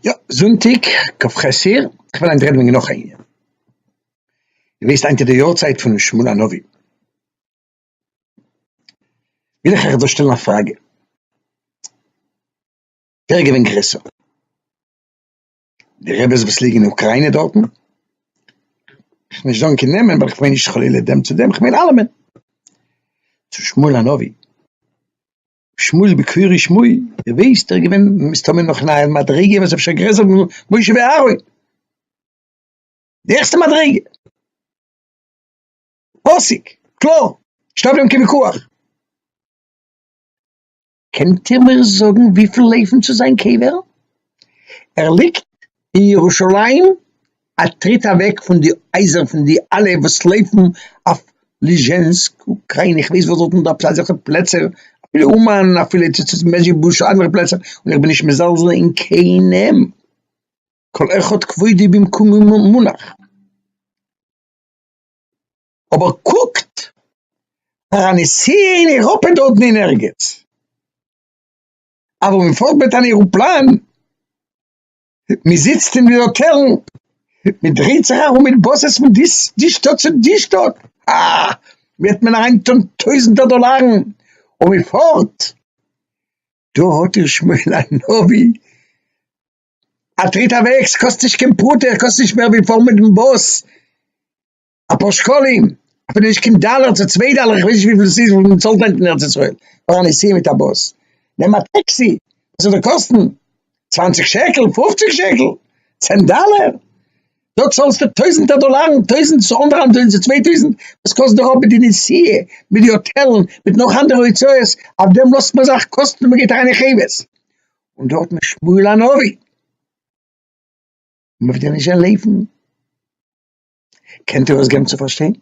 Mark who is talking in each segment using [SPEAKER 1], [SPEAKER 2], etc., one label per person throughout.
[SPEAKER 1] יא, זונטאג כ ח אייר, איך וויל היינט רעדן וועגן נאך א ענין, איר וויסט היינט איז די יארצייט פון שמואל הנביא, וויל איך אייך דא שטעלן א פראגע, ווער איז געווען גרעסער, די רעבעס וואס ליגן אין אוקריינע דארטן, איך וועל נישט זאגן קיין נעמען ווייל איך מיין נישט חלילה דעם צו דעם, איך מיין אלעמען, צו שמואל הנביא. שמואל בקווירי שמואל, איר ווייסט ער איז געווען מסתמא נאך אין א מדריגה וואס איז אפשר גרעסער פון משה ואהרן, די העכסטע מדריגה, פאסיג, קלאר, נישטא אויף דעם קיין וויכוח. קענט איר מיר זאגן וויפיל לויפן צו זיין קבר? ער ליגט אין ירושלים א טריט אוועק פון די הייזער פון די אלע וואס לויפן אויף ליזשענסק אוקריינע איך ווייס וואס דארט איז דא אזעלכע פלעצער אפילו אומאן אפילו צו צו מעזשיבוזש אנדערע פלעצער און איך בין נישט מזלזל אין קיינעם כל אחד כבודו במקומו מונח אבער קוקט פאר א נסיעה אין אירופה דארטן אין ערגעץ אוואו מען פארט מיט אן עראפלאן. מען זיצט אין די האטעלן, מען דרייט זיך ארום מיט באסעס פון די שטאט צו די שטאט, אה, וועט מען אריין טון טויזנטער דאלארן, און מען פארט, דא האט איר שמואל הנביא, א טריט אוועקס קאסט נישט קיין פרוטה, קאסט נישט מער ווי פארן מיטן באס, אפאר שקלים, אפילו נישט קיין דאלער צו צוויי דאלער, איך ווייס נישט וויפיל עס איז וואס מען צאלט היינט אין ארץ ישראל פאר א נסיעה מיט א באס, נעם א טעקסי, וואס זאל דיר קאסטן? צוואנציג שקל? פופציג שקל? צען דאלער? דארט צאלסטו טויזנטער דאלארן, טויזנט צו אנדערהאלב טויזנט צו צוויי טויזנט, וואס קאסט דיר אויף מיט די נסיעה, מיט די האטעלן, מיט נאך אנדערע הוצאות, אויף דעם לאזט מען זיך קאסטן און מען גייט אריין אין חובות, און דארט מיט שמואל הנביא, מען וועט דיר נישט זען לעבן. קענט איר עס געבן צו פארשטיין?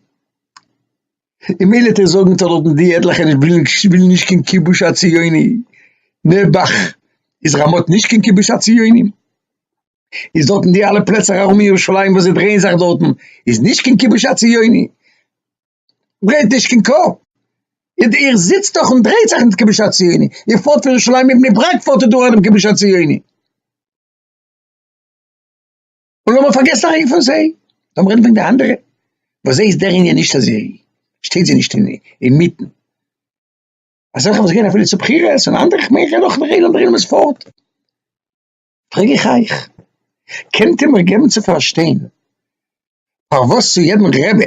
[SPEAKER 1] און מילא טאר איך זאגן טאר דארטן די עטליכע נישט ווילן ווילן נישט קיין כיבוש הציוני, נעבעך איז רמות נישט קיין כיבוש הציוני, איז דארטן די אלע פלעצער ארום ירושלים וואס זיי דרייען זיך דארטן איז נישט קיין כיבוש הציוני? ברענט נישט קיין קאפ, איר איר זיצט דאך און דרייט זיך מיט כיבוש הציוני, איר פארט פון ירושלים און בני ברק פארט איר דורך דעם כיבוש הציוני. און לאמיר פארגעסן א רגע פון זיי, לאמיר רעדן וועגן די אנדערע, ביי זיי איז דער ענין נישט אז זי שטייט זיי נישט אינמיטן, אזעלכע וואס גייען אפילו צו בחירות און אנדערע, כ'מיין איך רעד נאך דער עולם, דער עולם איז פארט, פרעג איך אייך, קענט איר מיר געבן צו פארשטיין פארוואס צו יעדן רבי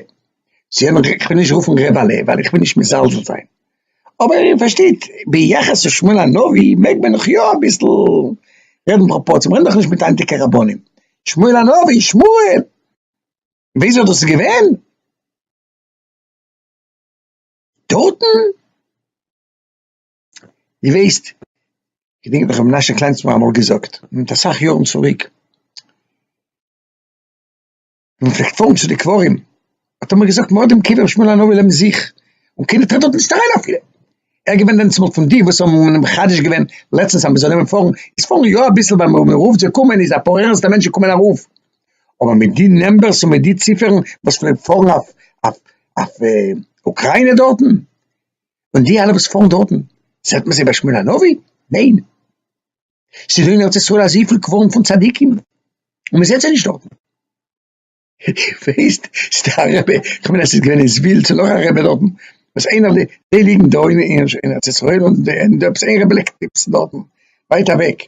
[SPEAKER 1] זיי האבן געזאגט איך וועל נישט רופן ר' בערל ווייל איך וויל נישט מזלזל זיין, אבער איר פארשטייט ביחס צו שמואל הנביא מעג מען נאך יא אביסל רעדן פראפארציע, מ'רעדט דאך נישט מיט היינטיגע רבנים, שמואל הנביא, שמואל! וויאזוי דאס איז געווען? דארטן? די ווייסט, געדענק איך האב ר' מנשה קליין צו מיר אמאל געזאגט מיט אסאך יארן צוריק, און זיך געפארן צו די קברים, האט ער מיר געזאגט מ'האט דעם קבר שמואל הנביא לעבן זיך, און קיינער טרעט דארט נישט אריין אפילו. ער איז געווען דענסמאל פון די וואס האבן אים מחדש געווען לעצטנס אז מ'זאל נעמען פארן, איז פארן יא אביסל ווייל ווען מ'רופט זיי קומען איז אפאר ערנסטע מענטשן קומען ארויף, אבער מיט די נומבערס און מיט די ציפערן וואס פלעגט פארן אויף אויף אוקריינע דארטן, און די אלע וואס פארן דארטן, זעט מען זיי ביי שמואל הנביא? ניין. ס'איז דא אין ארץ ישראל אזויפיל קברים פון צדיקים, און מ'זעט זיי נישט דארטן. ווייסט, ס'דא א רבי, כ'מיין אז ס'איז געווען אין זוויל, ס'איז נאך א רבי דארטן, וואס איינער די, די ליגן דא אין ארץ ישראל, און די ענד אפ איז איין רבי ליגט אינמיטן דארטן, ווייט אוועק.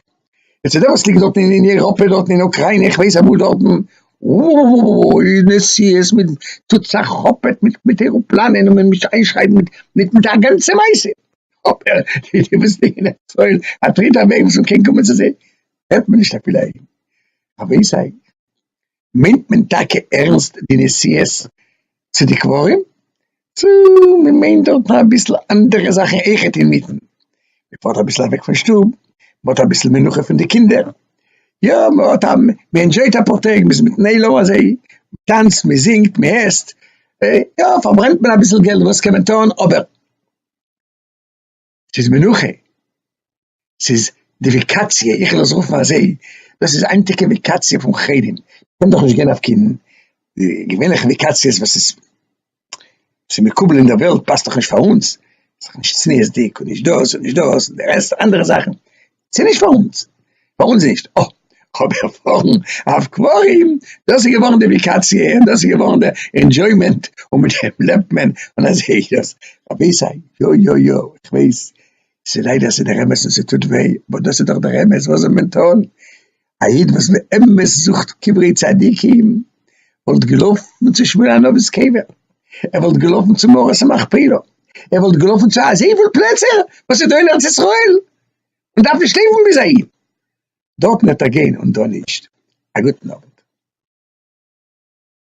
[SPEAKER 1] און ס'דא וואס ליגט דארטן אין אייראפע דארטן אין אוקריינע איך ווייס אמאל דארטן, אוי נסיעות מיט טוט זיך כאפעט מיט עראפלאנען און מ'מוז איינשרייבן מיט מיט א גאנצע מעשה. אבער די די וואס ליגן אין סויל א דריטער וועג וואס מען קען קומען צו זיי הערט מען נישט אפילו א איד א וועיס איי מיינט מען טאקע ערנסט די נסיעות צו די קברים צו מען מיינט דארט אביסל אנדערע זאכן אויכעט אינמיטן מען פארט אביסל אוועק פון שטוב מען האט אביסל מנוחה פון די קינדער יא מען האט א מען ענדשויט אפאר טעג מען איז מיטן עולם אזוי מען טאנצט מען זינגט מען עסט יא פארברענט מען אביסל געלט וואס קען מען טון אבער. ס'איז מנוחה, ס'איז די וועקאציע, איך וויל עס רופן אזוי, דאס איז היינטיגע וועקאציע פון חרדים, קען דאך נישט גיין אויף קיין געווענליכע וועקאציעס וואס איז ס'איז מקובל אין דער וועלט, פאסט דאך נישט פאר אונז, ס'איז דאך נישט צניעות'דיג און נישט דאס און נישט דאס און די רעסט אנדערע זאכן, ס'איז נישט פאר אונז, פאר אונז נישט, אוי, אבער פארן אב קברים, דאס איז געווארן די וואקאציע, און דאס איז געווארן די ענדזשוימענט, און מיט דעם לעבט מען, און אזוי איז דאס, רבי'זיי, יא יא יא, איך ווייס, ס'איז ליידער ס'איז דער אמת און ס'טוט וויי, אבער דאס איז דאך דער אמת, וואס זאל מען טון, א איד וואס באמת זוכט קברי צדיקים וואלט געלאפן צו שמואלאנאוו'ס קבר, ער וואלט געלאפן צו מערת המכפלה, ער וואלט געלאפן צו אזויפיל פלעצער וואס איז דא אין ארץ ישראל, מען דארף נישט לויפן ביז אהין, דארטן וועט ער גיין און דא נישט, א גוטן אווענט.